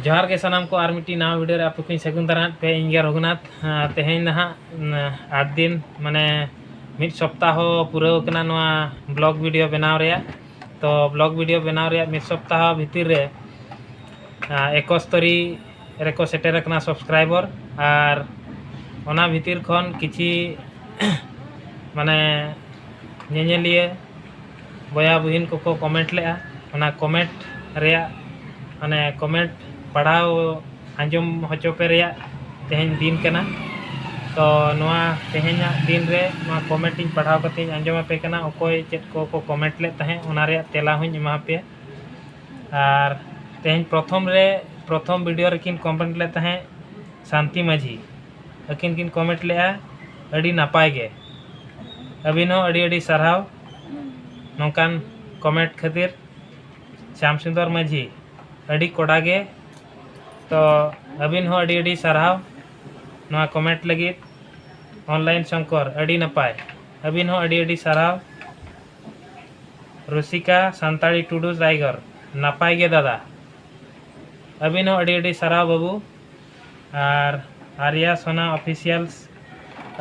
ᱡᱚᱦᱟᱨ ᱜᱮ ᱥᱟᱱᱟᱢ ᱠᱚ ᱟᱨ ᱢᱤᱫᱴᱤᱡ ᱱᱟᱣᱟ ᱵᱷᱤᱰᱤᱭᱳ ᱨᱮ ᱟᱯᱮ ᱠᱚᱧ ᱥᱟᱹᱜᱩᱱ ᱫᱟᱨᱟᱢᱮᱫ ᱯᱮ ᱤᱧ ᱜᱮ ᱨᱚᱜᱷᱩᱱᱟᱛᱷ ᱛᱮᱦᱮᱧ ᱱᱟᱦᱟᱜ ᱟᱴ ᱫᱤᱱ ᱢᱟᱱᱮ ᱢᱤᱫ ᱥᱚᱯᱛᱟᱦᱚ ᱯᱩᱨᱟᱹᱣ ᱠᱟᱱᱟ ᱱᱚᱣᱟ ᱵᱞᱚᱜ ᱵᱷᱤᱰᱤᱭᱳ ᱵᱮᱱᱟᱣ ᱨᱮᱭᱟᱜ ᱛᱚ ᱵᱞᱚᱜ ᱵᱷᱤᱰᱤᱭᱳ ᱵᱮᱱᱟᱣ ᱨᱮᱭᱟᱜ ᱢᱤᱫ ᱥᱚᱯᱛᱟᱦᱚ ᱵᱷᱤᱛᱤᱨ ᱨᱮ ᱮᱠᱚᱥᱛᱚᱨᱤ ᱨᱮᱠᱚ ᱥᱮᱴᱮᱨ ᱟᱠᱟᱱᱟ ᱥᱟᱵᱥᱠᱨᱟᱭᱵᱚᱨ ᱟᱨ ᱚᱱᱟ ᱵᱷᱤᱛᱤᱨ ᱠᱷᱚᱱ ᱠᱤᱪᱷᱤ ᱢᱟᱱᱮ ᱧᱮᱧᱮᱞᱤᱭᱟᱹ ᱵᱚᱭᱦᱟ ᱵᱩᱦᱤᱱ ᱠᱚ ᱠᱚ ᱠᱚᱢᱮᱱᱴ ᱞᱮᱫᱼᱟ ᱚᱱᱟ ᱠᱚᱢᱮᱱᱴ ᱨᱮᱭᱟᱜ ᱢᱟᱱᱮ ᱠᱚᱢᱮᱱᱴ ᱯᱟᱲᱦᱟᱣ ᱟᱸᱡᱚᱢ ᱦᱚᱪᱚ ᱯᱮ ᱨᱮᱭᱟᱜ ᱛᱮᱦᱮᱧ ᱫᱤᱱ ᱠᱟᱱᱟ ᱛᱚ ᱱᱚᱣᱟ ᱛᱮᱦᱮᱧᱟᱜ ᱫᱤᱱ ᱨᱮ ᱱᱚᱣᱟ ᱠᱚᱢᱮᱱᱴ ᱤᱧ ᱯᱟᱲᱦᱟᱣ ᱠᱟᱛᱮᱫ ᱤᱧ ᱟᱸᱡᱚᱢ ᱟᱯᱮ ᱠᱟᱱᱟ ᱚᱠᱚᱭ ᱪᱮᱫ ᱠᱚ ᱠᱚ ᱠᱚᱢᱮᱱᱴ ᱞᱮᱫ ᱛᱟᱦᱮᱸᱫ ᱚᱱᱟ ᱨᱮᱭᱟᱜ ᱛᱮᱞᱟ ᱦᱚᱧ ᱮᱢᱟ ᱯᱮᱭᱟ ᱟᱨ ᱛᱮᱦᱮᱧ ᱯᱨᱚᱛᱷᱚᱢ ᱨᱮ ᱯᱨᱚᱛᱷᱚᱢ ᱵᱷᱤᱰᱤᱭᱳ ᱨᱮᱠᱤᱱ ᱠᱚᱢᱮᱱᱴ ᱞᱮᱫ ᱛᱟᱦᱮᱸᱫ ᱥᱟᱱᱛᱤ ᱢᱟᱹᱡᱷᱤ ᱟᱹᱠᱤᱱ ᱠᱤᱱ ᱠᱚᱢᱮᱱᱴ ᱞᱮᱜᱼᱟ ᱟᱹᱰᱤ ᱱᱟᱯᱟᱭ ᱜᱮ ᱟᱹᱵᱤᱱ ᱦᱚᱸ ᱟᱹᱰᱤ ᱟᱹᱰᱤ ᱥᱟᱨᱦᱟᱣ ᱱᱚᱝᱠᱟᱱ ᱠᱚᱢᱮᱱᱴ ᱠᱷᱟᱹᱛᱤᱨ ᱥᱭᱟᱢ ᱥᱩᱱᱫᱚᱨ ᱢᱟᱹᱡᱷᱤ ᱟᱹᱰᱤ ᱠᱚᱰᱟ ᱜᱮ ᱛᱚ ᱟᱹᱵᱤᱱ ᱦᱚᱸ ᱟᱹᱰᱤ ᱟᱹᱰᱤ ᱥᱟᱨᱦᱟᱣ ᱱᱚᱣᱟ ᱠᱚᱢᱮᱱᱴ ᱞᱟᱹᱜᱤᱫ ᱚᱱᱞᱟᱭᱤᱱ ᱥᱚᱝᱠᱚᱨ ᱟᱹᱰᱤ ᱱᱟᱯᱟᱭ ᱟᱹᱵᱤᱱ ᱦᱚᱸ ᱟᱹᱰᱤ ᱟᱹᱰᱤ ᱥᱟᱨᱦᱟᱣ ᱨᱩᱥᱤᱠᱟ ᱥᱟᱱᱛᱟᱲᱤ ᱴᱩᱰᱩ ᱨᱟᱭᱜᱚᱨ ᱱᱟᱯᱟᱭ ᱜᱮ ᱫᱟᱫᱟ ᱟᱹᱵᱤᱱ ᱦᱚᱸ ᱟᱹᱰᱤ ᱟᱹᱰᱤ ᱥᱟᱨᱦᱟᱣ ᱵᱟᱹᱵᱩ ᱟᱨ ᱟᱨᱭᱟ ᱥᱚᱱᱟ ᱚᱯᱷᱤᱥᱤᱭᱟᱞᱥ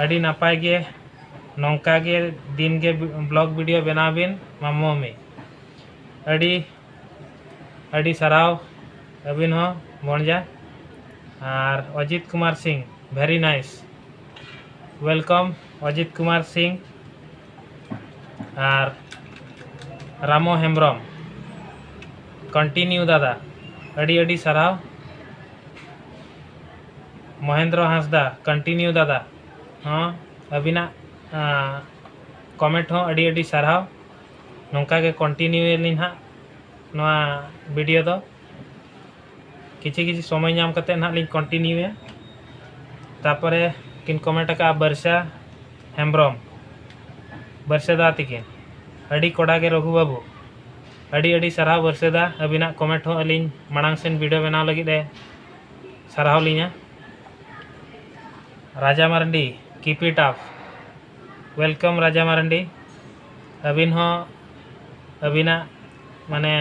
ᱟᱹᱰᱤ ᱱᱟᱯᱟᱭ ᱜᱮ ᱱᱚᱝᱠᱟ ᱜᱮ ᱫᱤᱱ ᱜᱮ ᱵᱞᱚᱜᱽ ᱵᱷᱤᱰᱤᱭᱳ ᱵᱮᱱᱟᱣ ᱵᱤᱱ ᱢᱟᱢᱩ ᱢᱟᱢᱤ ᱟᱹᱰᱤ ᱟᱹᱰᱤ ᱥᱟᱨᱦᱟᱣ ᱟᱹᱵᱤᱱ ᱦᱚᱸ ᱵᱚᱱᱡᱟ ᱟᱨ Ajit Kumar Singh very nice welcome Ajit Kumar Singh ᱟᱨ ᱨᱟᱢᱚ ᱦᱮᱢᱵᱨᱚᱢ ᱠᱚᱱᱴᱤᱱᱤᱭᱩ ᱫᱟᱫᱟ ᱟᱹᱰᱤ ᱟᱹᱰᱤ ᱥᱟᱨᱦᱟᱣ ᱢᱚᱦᱮᱱᱫᱨᱚ ᱦᱟᱸᱥᱫᱟ ᱠᱚᱱᱴᱤᱱᱤᱭᱩ ᱫᱟᱫᱟ ᱦᱚᱸ ᱟᱹᱵᱤᱱᱟᱜ ᱠᱚᱢᱮᱱᱴ ᱦᱚᱸ ᱟᱹᱰᱤ ᱟᱹᱰᱤ ᱥᱟᱨᱦᱟᱣ ᱱᱚᱝᱠᱟ ᱜᱮ ᱠᱚᱱᱴᱤᱱᱤᱭᱩᱭᱟᱞᱤᱧ ᱦᱟᱸᱜ ᱱᱚᱣᱟ ᱵᱷᱤᱰᱤᱭᱳ ᱫᱚ ᱠᱤᱪᱷᱩ ᱠᱤᱪᱷᱩ ᱥᱚᱢᱚᱭ ᱧᱟᱢ ᱠᱟᱛᱮ ᱱᱟᱦᱟᱜ ᱞᱤᱧ ᱠᱚᱱᱴᱤᱱᱤᱭᱩᱭᱟ ᱛᱟᱨᱯᱚᱨᱮ ᱠᱤᱱ ᱠᱚᱢᱮᱱᱴ ᱟᱠᱟᱫᱼᱟ ᱵᱟᱹᱨᱥᱟ ᱦᱮᱢᱵᱨᱚᱢ ᱵᱟᱹᱨᱥᱟ ᱫᱟ ᱛᱤᱠᱤᱱ ᱟᱹᱰᱤ ᱠᱚᱰᱟ ᱜᱮ ᱨᱚᱜᱷᱩ ᱵᱟᱹᱵᱩ ᱟᱹᱰᱤ ᱟᱹᱰᱤ ᱥᱟᱨᱦᱟᱣ ᱵᱟᱹᱨᱥᱟᱹᱫᱟ ᱟᱹᱵᱤᱱᱟᱜ ᱠᱚᱢᱮᱱᱴ ᱦᱚᱸ ᱟᱹᱞᱤᱧ ᱢᱟᱲᱟᱝ ᱥᱮᱱ ᱵᱷᱤᱰᱤᱭᱳ ᱵᱮᱱᱟᱣ ᱞᱟᱹᱜᱤᱫ ᱮ ᱥᱟᱨᱦᱟᱣ ᱞᱤᱧᱟ Raja Marandi keep it up welcome Raja Marandi ᱟᱹᱵᱤᱱ ᱦᱚᱸ ᱟᱹᱵᱤᱱᱟᱜ ᱢᱟᱱᱮ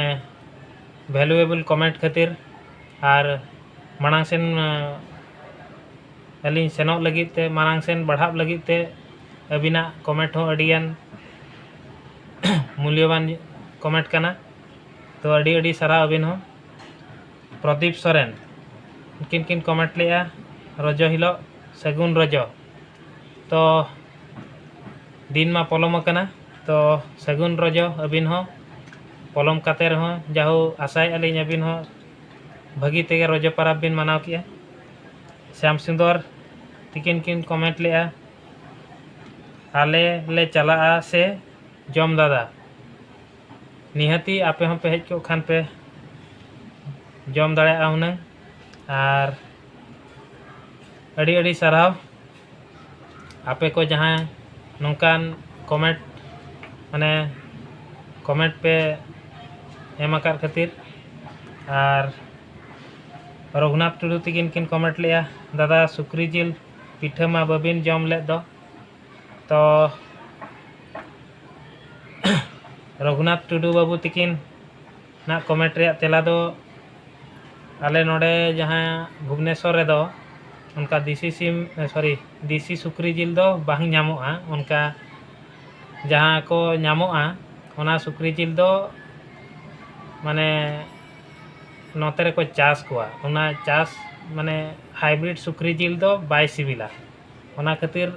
ᱵᱷᱮᱞᱩᱭᱮᱵᱚᱞ ᱠᱚᱢᱮᱱᱴ ᱠᱷᱟᱹᱛᱤᱨ ᱟᱨ ᱢᱟᱲᱟᱝ ᱥᱮᱱ ᱟᱹᱞᱤᱧ ᱥᱮᱱᱚᱜ ᱞᱟᱹᱜᱤᱫ ᱛᱮ ᱢᱟᱲᱟᱝ ᱥᱮᱱ ᱵᱟᱲᱦᱟᱜ ᱞᱟᱹᱜᱤᱫ ᱛᱮ ᱟᱹᱵᱤᱱᱟᱜ ᱠᱚᱢᱮᱱᱴ ᱦᱚᱸ ᱟᱹᱰᱤᱜᱟᱱ ᱢᱩᱞᱭᱚᱵᱟᱱ ᱠᱚᱢᱮᱱᱴ ᱠᱟᱱᱟ ᱛᱚ ᱟᱹᱰᱤ ᱟᱹᱰᱤ ᱥᱟᱨᱦᱟᱣ ᱟᱹᱵᱤᱱ ᱦᱚᱸ ᱯᱨᱚᱫᱤᱯ ᱥᱚᱨᱮᱱ ᱩᱱᱠᱤᱱ ᱠᱤᱱ ᱠᱚᱢᱮᱱᱴ ᱞᱮᱫᱼᱟ ᱨᱚᱡᱚ ᱦᱤᱞᱳᱜ ᱥᱟᱹᱜᱩᱱ ᱨᱚᱡᱚ ᱛᱚ ᱫᱤᱱ ᱢᱟ ᱯᱚᱞᱚᱢ ᱟᱠᱟᱱᱟ ᱛᱚ ᱥᱟᱹᱜᱩᱱ ᱨᱚᱡᱚ ᱟᱹᱵᱤᱱ ᱦᱚᱸ ᱯᱚᱞᱚᱢ ᱠᱟᱛᱮ ᱨᱮᱦᱚᱸ ᱡᱟᱦᱳ ᱟᱥᱟᱭᱮᱫᱼᱟ ᱞᱤᱧ ᱟᱹᱵᱤᱱ ᱦᱚᱸ ᱵᱷᱟᱹᱜᱤ ᱛᱮᱜᱮ ᱨᱚᱡᱚ ᱯᱚᱨᱚᱵᱽ ᱵᱤᱱ ᱢᱟᱱᱟᱣ ᱠᱮᱫᱼᱟ ᱥᱟᱢ ᱥᱩᱱᱫᱚᱨ ᱛᱤᱠᱤᱱ ᱠᱤᱱ ᱠᱚᱢᱮᱱᱴ ᱞᱮᱫᱼᱟ ᱟᱞᱮ ᱞᱮ ᱪᱟᱞᱟᱜᱼᱟ ᱥᱮ ᱡᱚᱢ ᱫᱟᱫᱟ ᱱᱤᱦᱟᱹᱛᱤ ᱟᱯᱮ ᱦᱚᱸ ᱯᱮ ᱦᱮᱡ ᱠᱚᱜ ᱠᱷᱟᱱ ᱯᱮ ᱡᱚᱢ ᱫᱟᱲᱮᱭᱟᱜᱼᱟ ᱦᱩᱱᱟᱹᱝ ᱟᱨ ᱟᱹᱰᱤ ᱟᱹᱰᱤ ᱥᱟᱨᱦᱟᱣ ᱟᱯᱮ ᱠᱚ ᱡᱟᱦᱟᱸ ᱱᱚᱝᱠᱟᱱ ᱠᱚᱢᱮᱱᱴ ᱢᱟᱱᱮ ᱠᱚᱢᱮᱱᱴ ᱯᱮ ᱮᱢ ᱟᱠᱟᱫ ᱠᱷᱟᱹᱛᱤᱨ ᱟᱨ ᱨᱚᱜᱷᱩᱱᱟᱛᱷ ᱴᱩᱰᱩ ᱛᱟᱹᱠᱤᱱ ᱠᱤᱱ ᱠᱚᱢᱮᱱᱴ ᱞᱮᱜᱼᱟ ᱫᱟᱫᱟ ᱥᱩᱠᱨᱤ ᱡᱤᱞ ᱯᱤᱴᱷᱟᱹ ᱢᱟ ᱵᱟᱹᱵᱤᱱ ᱡᱚᱢ ᱞᱮᱫ ᱫᱚ ᱛᱚ ᱨᱚᱜᱷᱩᱱᱟᱛᱷ ᱴᱩᱰᱩ ᱵᱟᱹᱵᱩ ᱛᱤᱠᱤᱱ ᱱᱟᱜ ᱠᱚᱢᱮᱱᱴ ᱨᱮᱭᱟᱜ ᱛᱮᱞᱟ ᱫᱚ ᱟᱞᱮ ᱱᱚᱰᱮ ᱡᱟᱦᱟᱸ ᱵᱷᱩᱵᱽᱱᱮᱥᱚᱨ ᱨᱮᱫᱚ ᱚᱱᱠᱟ ᱫᱮᱥᱤ ᱥᱤᱢ ᱥᱚᱨᱤ ᱫᱮᱥᱤ ᱥᱩᱠᱨᱤ ᱡᱤᱞ ᱫᱚ ᱵᱟᱝ ᱧᱟᱢᱚᱜᱼᱟ ᱚᱱᱠᱟ ᱡᱟᱦᱟᱸ ᱠᱚ ᱧᱟᱢᱚᱜᱼᱟ ᱚᱱᱟ ᱥᱩᱠᱨᱤ ᱡᱤᱞ ᱫᱚ ᱢᱟᱱᱮ ᱱᱚᱛᱮ ᱨᱮᱠᱚ ᱪᱟᱥ ᱠᱚᱣᱟ ᱚᱱᱟ ᱪᱟᱥ ᱢᱟᱱᱮ ᱦᱟᱭᱵᱨᱤᱰ ᱥᱩᱠᱨᱤ ᱡᱤᱞ ᱫᱚ ᱵᱟᱭ ᱥᱤᱵᱤᱞᱟ ᱚᱱᱟ ᱠᱷᱟᱹᱛᱤᱨ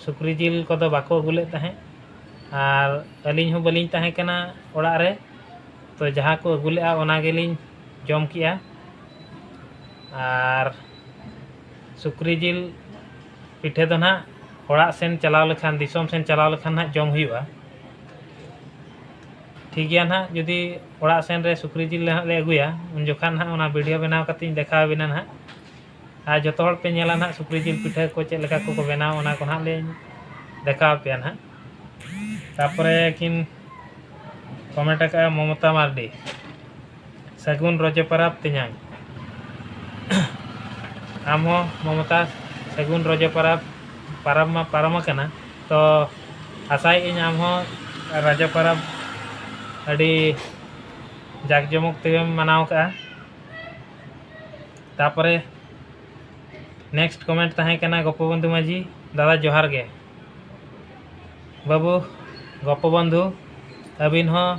ᱥᱩᱠᱨᱤ ᱡᱤᱞ ᱠᱚᱫᱚ ᱵᱟᱠᱚ ᱟᱹᱜᱩ ᱞᱮᱫ ᱛᱟᱦᱮᱸᱫ ᱟᱨ ᱟᱹᱞᱤᱧ ᱦᱚᱸ ᱵᱟᱹᱞᱤᱧ ᱛᱟᱦᱮᱸ ᱠᱟᱱᱟ ᱚᱲᱟᱜ ᱨᱮ ᱛᱚ ᱡᱟᱦᱟᱸ ᱠᱚ ᱟᱹᱜᱩ ᱞᱮᱫᱼᱟ ᱚᱱᱟ ᱜᱮᱞᱤᱧ ᱡᱚᱢ ᱠᱮᱫᱼᱟ ᱟᱨ ᱥᱩᱠᱨᱤ ᱡᱤᱞ ᱯᱤᱴᱷᱟᱹ ᱫᱚ ᱱᱟᱦᱟᱜ ᱚᱲᱟᱜ ᱥᱮᱱ ᱪᱟᱞᱟᱣ ᱞᱮᱠᱷᱟᱱ ᱫᱤᱥᱚᱢ ᱥᱮᱱ ᱪᱟᱞᱟᱣ ᱞᱮᱠᱷᱟᱱ ᱱᱟᱦᱟᱜ ᱡᱚᱢ ᱦᱩᱭᱩᱜᱼᱟ ᱴᱷᱤᱠ ᱜᱮᱭᱟ ᱱᱟᱦᱟᱜ ᱡᱩᱫᱤ ᱚᱲᱟᱜ ᱥᱮᱱ ᱨᱮ ᱥᱩᱠᱨᱤ ᱡᱤᱞ ᱞᱮ ᱦᱟᱸᱜ ᱞᱮ ᱟᱹᱜᱩᱭᱟ ᱩᱱ ᱡᱚᱠᱷᱟᱱ ᱱᱟᱦᱟᱜ ᱚᱱᱟ ᱵᱷᱤᱰᱭᱳ ᱵᱮᱱᱟᱣ ᱠᱟᱛᱮᱫ ᱤᱧ ᱫᱮᱠᱷᱟᱣ ᱟᱹᱵᱤᱱᱟ ᱱᱟᱦᱟᱜ ᱟᱨ ᱡᱚᱛᱚ ᱦᱚᱲ ᱯᱮ ᱧᱮᱞᱟ ᱱᱟᱦᱟᱜ ᱥᱩᱠᱨᱤ ᱡᱤᱞ ᱯᱤᱴᱷᱟᱹ ᱠᱚ ᱪᱮᱫ ᱞᱮᱠᱟ ᱠᱚᱠᱚ ᱵᱮᱱᱟᱣᱟ ᱚᱱᱟ ᱠᱚ ᱱᱟᱦᱟᱜ ᱞᱤᱧ ᱫᱮᱠᱷᱟᱣ ᱟᱯᱮᱭᱟ ᱱᱟᱦᱟᱜ ᱛᱟᱨᱯᱚᱨᱮ ᱠᱤᱱ ᱠᱚᱢᱮᱱᱴ ᱟᱠᱟᱫᱼᱟ ᱢᱚᱢᱚᱛᱟ ᱢᱟᱨᱰᱤ ᱥᱟᱹᱜᱩᱱ ᱨᱚᱡᱚ ᱯᱟᱨᱟᱵᱽ ᱛᱮᱧᱟᱝ᱾ ᱟᱢ ᱦᱚᱸ ᱢᱚᱢᱚᱛᱟ ᱥᱟᱹᱜᱩᱱ ᱨᱚᱡᱚ ᱯᱟᱨᱟᱵᱽ᱾ ᱯᱟᱨᱟᱵᱽ ᱢᱟ ᱯᱟᱨᱚᱢ ᱟᱠᱟᱱᱟ ᱛᱚ ᱟᱥᱟᱭᱮᱫ ᱟᱹᱧ ᱟᱢ ᱦᱚᱸ ᱨᱚᱡᱚ ᱯᱟᱨᱟᱵᱽ ᱟᱹᱰᱤ ᱡᱟᱠ ᱡᱚᱢᱚᱠ ᱛᱮᱜᱮᱢ ᱢᱟᱱᱟᱣ ᱟᱠᱟᱫᱼᱟ᱾ ᱛᱟᱨᱯᱚᱨᱮ ᱱᱮᱠᱥᱴ ᱠᱚᱢᱮᱱᱴ ᱛᱟᱦᱮᱸ ᱠᱟᱱᱟ ᱜᱚᱯᱚᱵᱚᱱᱫᱷᱩ ᱢᱟᱹᱡᱷᱤ ᱫᱟᱫᱟ ᱡᱚᱦᱟᱨ ᱜᱮ᱾ ᱵᱟᱹᱵᱩ ᱜᱚᱯᱚᱵᱚᱱᱫᱷᱩ ᱟᱹᱵᱤᱱ ᱦᱚᱸ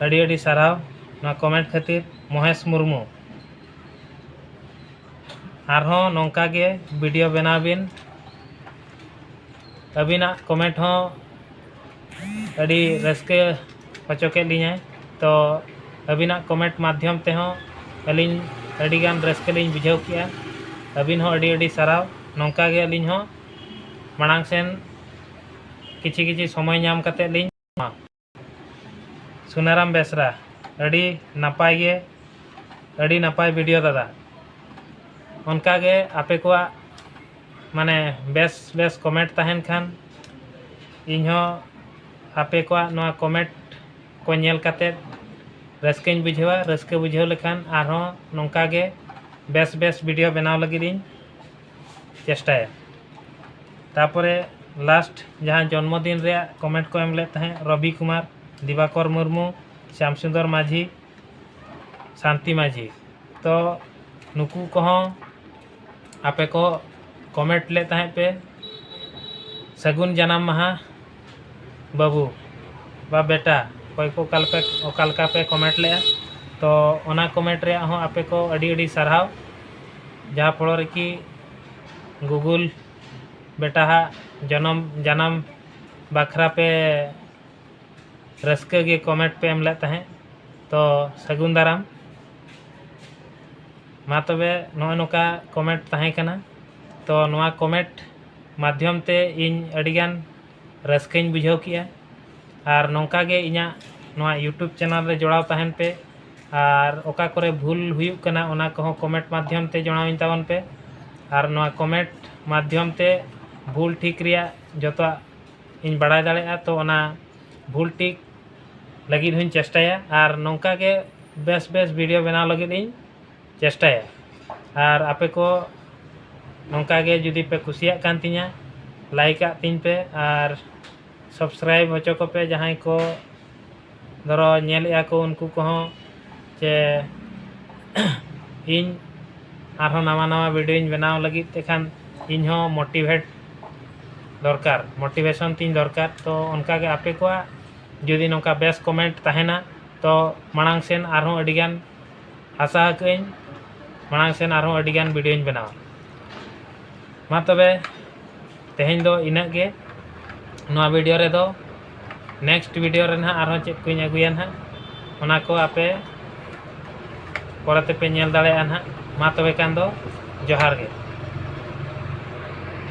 ᱟᱹᱰᱤ ᱟᱹᱰᱤ ᱥᱟᱨᱦᱟᱣ ᱱᱚᱣᱟ ᱠᱚᱢᱮᱱᱴ ᱠᱷᱟᱹᱛᱤᱨ ᱢᱚᱦᱮᱥ ᱢᱩᱨᱢᱩ ᱟᱨᱦᱚᱸ ᱱᱚᱝᱠᱟ ᱜᱮ ᱵᱷᱤᱰᱤᱭᱳ ᱵᱮᱱᱟᱣ ᱵᱤᱱ ᱟᱹᱵᱤᱱᱟᱜ ᱠᱚᱢᱮᱱᱴ ᱦᱚᱸ ᱟᱹᱰᱤ ᱨᱟᱹᱥᱠᱟᱹ ᱦᱚᱪᱚ ᱠᱮᱫ ᱞᱤᱧᱟᱹᱭ ᱛᱚ ᱟᱹᱵᱤᱱᱟᱜ ᱠᱚᱢᱮᱱᱴ ᱢᱟᱫᱽᱫᱷᱚᱢ ᱛᱮᱦᱚᱸ ᱟᱹᱞᱤᱧ ᱟᱹᱰᱤᱜᱟᱱ ᱨᱟᱹᱥᱠᱟᱹ ᱞᱤᱧ ᱵᱩᱡᱷᱟᱹᱣ ᱠᱮᱜᱼᱟ ᱟᱹᱵᱤᱱ ᱦᱚᱸ ᱟᱹᱰᱤ ᱟᱹᱰᱤ ᱥᱟᱨᱦᱟᱣ ᱱᱚᱝᱠᱟ ᱜᱮ ᱟᱹᱞᱤᱧ ᱦᱚᱸ ᱢᱟᱲᱟᱝ ᱥᱮᱱ ᱠᱤᱪᱷᱤ ᱠᱤᱪᱷᱤ ᱥᱚᱢᱚᱭ ᱧᱟᱢ ᱠᱟᱛᱮ ᱞᱤᱧ ᱧᱟᱢᱟ ᱥᱩᱱᱟᱨᱟᱢ ᱵᱮᱥᱨᱟ ᱟᱹᱰᱤ ᱱᱟᱯᱟᱭ ᱜᱮ ᱟᱹᱰᱤ ᱱᱟᱯᱟᱭ ᱵᱷᱤᱰᱤᱭᱳ ᱫᱟᱫᱟ ᱚᱱᱠᱟ ᱜᱮ ᱟᱯᱮ ᱠᱚᱣᱟᱜ ᱢᱟᱱᱮ ᱵᱮᱥ ᱵᱮᱥ ᱠᱚᱢᱮᱱᱴ ᱛᱟᱦᱮᱱ ᱠᱷᱟᱱ ᱤᱧ ᱦᱚᱸ ᱟᱯᱮ ᱠᱚᱣᱟᱜ ᱱᱚᱣᱟ ᱠᱚᱢᱮᱱᱴ ᱠᱚ ᱧᱮᱞ ᱠᱟᱛᱮ ᱨᱟᱹᱥᱠᱟᱹᱧ ᱵᱩᱡᱷᱟᱹᱣᱟ ᱨᱟᱹᱥᱠᱟᱹ ᱵᱩᱡᱷᱟᱹᱣ ᱞᱮᱠᱷᱟᱱ ᱟᱨᱦᱚᱸ ᱱᱚᱝᱠᱟ ᱜᱮ ᱵᱮᱥ ᱵᱮᱥ ᱵᱷᱤᱰᱤᱭᱳ ᱵᱮᱱᱟᱣ ᱞᱟᱹᱜᱤᱫ ᱤᱧ ᱪᱮᱥᱴᱟᱭᱟ ᱛᱟᱯᱚᱨᱮ ᱞᱟᱥᱴ ᱡᱟᱦᱟᱸ ᱡᱚᱱᱢᱚ ᱫᱤᱱ ᱨᱮᱭᱟᱜ ᱠᱚᱢᱮᱱᱴ ᱠᱚ ᱮᱢ ᱞᱮᱫ ᱛᱟᱦᱮᱸᱫ ᱨᱚᱵᱤ ᱠᱩᱢᱟᱨ ᱫᱤᱵᱟᱠᱚᱨ ᱢᱩᱨᱢᱩ ᱥᱭᱟᱢ ᱥᱩᱱᱫᱚᱨ ᱢᱟᱹᱡᱷᱤ ᱥᱟᱱᱛᱤ ᱢᱟᱹᱡᱷᱤ ᱛᱚ ᱱᱩᱠᱩ ᱠᱚᱦᱚᱸ ᱟᱯᱮ ᱠᱚ ᱠᱚᱢᱮᱱᱴ ᱞᱮᱫ ᱛᱟᱦᱮᱸᱫ ᱯᱮ ᱥᱟᱹᱜᱩᱱ ᱡᱟᱱᱟᱢ ᱢᱟᱦᱟ ᱵᱟᱹᱵᱩ ᱵᱟ ᱵᱮᱴᱟ ᱚᱠᱚᱭ ᱠᱚ ᱚᱠᱟ ᱞᱮᱠᱟ ᱚᱠᱟ ᱞᱮᱠᱟ ᱯᱮ ᱠᱚᱢᱮᱱᱴ ᱞᱮᱜᱼᱟ ᱛᱚ ᱚᱱᱟ ᱠᱚᱢᱮᱱᱴ ᱨᱮᱭᱟᱜ ᱦᱚᱸ ᱟᱯᱮ ᱠᱚ ᱟᱹᱰᱤ ᱟᱹᱰᱤ ᱥᱟᱨᱦᱟᱣ ᱡᱟᱦᱟᱸ ᱯᱷᱚᱞᱚ ᱨᱮ ᱠᱤ ᱜᱩᱜᱩᱞ ᱵᱮᱴᱟ ᱦᱟᱜ ᱡᱚᱱᱚᱢ ᱡᱟᱱᱟᱢ ᱵᱟᱠᱷᱨᱟ ᱯᱮ ᱨᱟᱹᱥᱠᱟᱹ ᱜᱮ ᱠᱚᱢᱮᱱᱴ ᱯᱮ ᱮᱢ ᱞᱮᱫ ᱛᱟᱦᱮᱸᱫ ᱛᱚ ᱥᱟᱹᱜᱩᱱ ᱫᱟᱨᱟᱢ ᱢᱟ ᱛᱚᱵᱮ ᱱᱚᱜᱼᱚᱸᱭ ᱱᱚᱝᱠᱟ ᱠᱚᱢᱮᱱᱴ ᱛᱟᱦᱮᱸ ᱠᱟᱱᱟ ᱛᱚ ᱱᱚᱣᱟ ᱠᱚᱢᱮᱱᱴ ᱢᱟᱫᱷᱭᱚᱢ ᱛᱮ ᱤᱧ ᱟᱹᱰᱤ ᱜᱟᱱ ᱨᱟᱹᱥᱠᱟᱹᱧ ᱵᱩᱡᱷᱟᱹᱣ ᱠᱮᱜᱼᱟ ᱟᱨ ᱱᱚᱝᱠᱟ ᱜᱮ ᱤᱧᱟᱹᱜ ᱱᱚᱣᱟ ᱤᱭᱩᱴᱩᱵᱽ ᱪᱮᱱᱮᱞ ᱨᱮ ᱡᱚᱲᱟᱣ ᱛᱟᱦᱮᱱ ᱯᱮ ᱟᱨ ᱚᱠᱟ ᱠᱚᱨᱮ ᱵᱷᱩᱞ ᱦᱩᱭᱩᱜ ᱠᱟᱱᱟ ᱚᱱᱟ ᱠᱚᱦᱚᱸ ᱠᱚᱢᱮᱱᱴ ᱢᱟᱫᱷᱭᱚᱢ ᱛᱮ ᱡᱟᱱᱟᱣᱟᱹᱧ ᱛᱟᱵᱚᱱ ᱯᱮ ᱟᱨ ᱱᱚᱣᱟ ᱠᱚᱢᱮᱱᱴ ᱢᱟᱫᱷᱭᱚᱢ ᱛᱮ ᱵᱷᱩᱞ ᱴᱷᱤᱠ ᱨᱮᱭᱟᱜ ᱡᱚᱛᱚᱣᱟᱜ ᱤᱧ ᱵᱟᱲᱟᱭ ᱫᱟᱲᱮᱭᱟᱜᱼᱟ ᱛᱚ ᱚᱱᱟ ᱵᱷᱩᱞ ᱴᱷᱤᱠ ᱞᱟᱹᱜᱤᱫ ᱦᱚᱸᱧ ᱪᱮᱥᱴᱟᱭᱟ ᱟᱨ ᱱᱚᱝᱠᱟ ᱜᱮ ᱵᱮᱥ ᱵᱮᱥ ᱵᱷᱤᱰᱭᱳ ᱵᱮᱱᱟᱣ ᱞᱟᱹᱜᱤᱫ ᱤᱧ ᱪᱮᱥᱴᱟᱭᱟ ᱟᱨ ᱟᱯᱮ ᱠᱚ ᱱᱚᱝᱠᱟ ᱜᱮ ᱡᱩᱫᱤ ᱯᱮ ᱠᱩᱥᱤᱭᱟᱜ ᱠᱟᱱ ᱛᱤᱧᱟᱹ ᱞᱟᱭᱤᱠ ᱟᱜ ᱛᱤᱧ ᱯᱮ ᱟᱨ ᱥᱟᱵᱥᱠᱨᱟᱭᱤᱵᱽ ᱦᱚᱪᱚ ᱠᱚᱯᱮ ᱡᱟᱦᱟᱸᱭ ᱠᱚ ᱫᱷᱚᱨᱚ ᱧᱮᱞᱮᱜᱼᱟ ᱠᱚ ᱩᱱᱠᱩ ᱠᱚᱦᱚᱸ ᱥᱮ ᱤᱧ ᱟᱨᱦᱚᱸ ᱱᱟᱣᱟ ᱱᱟᱣᱟ ᱵᱷᱤᱰᱭᱳᱧ ᱵᱮᱱᱟᱣ ᱞᱟᱹᱜᱤᱫ ᱛᱮᱠᱷᱟᱱ ᱤᱧ ᱦᱚᱸ ᱢᱳᱴᱤᱵᱷᱮᱴ ᱫᱚᱨᱠᱟᱨ ᱢᱳᱴᱤᱵᱷᱮᱥᱚᱱ ᱛᱤᱧ ᱫᱚᱨᱠᱟᱨ ᱛᱚ ᱚᱱᱠᱟ ᱜᱮ ᱟᱯᱮ ᱠᱚᱣᱟᱜ ᱡᱩᱫᱤ ᱱᱚᱝᱠᱟ ᱵᱮᱥ ᱠᱚᱢᱮᱱᱴ ᱛᱟᱦᱮᱱᱟ ᱛᱚ ᱢᱟᱲᱟᱝ ᱥᱮᱱ ᱟᱨᱦᱚᱸ ᱟᱹᱰᱤ ᱜᱟᱱ ᱟᱥᱟ ᱟᱠᱟᱫ ᱟᱹᱧ ᱢᱟᱲᱟᱝ ᱥᱮᱱ ᱟᱨᱦᱚᱸ ᱟᱹᱰᱤ ᱜᱟᱱ ᱵᱷᱤᱰᱤᱭᱳᱧ ᱵᱮᱱᱟᱣᱟ ᱢᱟ ᱛᱚᱵᱮ ᱛᱮᱦᱮᱧ ᱫᱚ ᱤᱱᱟᱹᱜ ᱜᱮ ᱱᱚᱣᱟ ᱵᱷᱤᱰᱤᱭᱳ ᱨᱮᱫᱚ ᱱᱮᱠᱥᱴ ᱵᱷᱤᱰᱤᱭᱳ ᱨᱮ ᱱᱟᱦᱟᱜ ᱟᱨᱦᱚᱸ ᱪᱮᱫ ᱠᱚᱧ ᱟᱹᱜᱩᱭᱟ ᱱᱟᱦᱟᱜ ᱚᱱᱟ ᱠᱚ ᱟᱯᱮ ᱯᱚᱨᱮ ᱛᱮᱯᱮ ᱧᱮᱞ ᱫᱟᱲᱮᱭᱟᱜᱼᱟ ᱱᱟᱦᱟᱜ ᱢᱟ ᱛᱚᱵᱮ ᱠᱷᱟᱱ ᱫᱚ ᱡᱚᱦᱟᱨ ᱜᱮ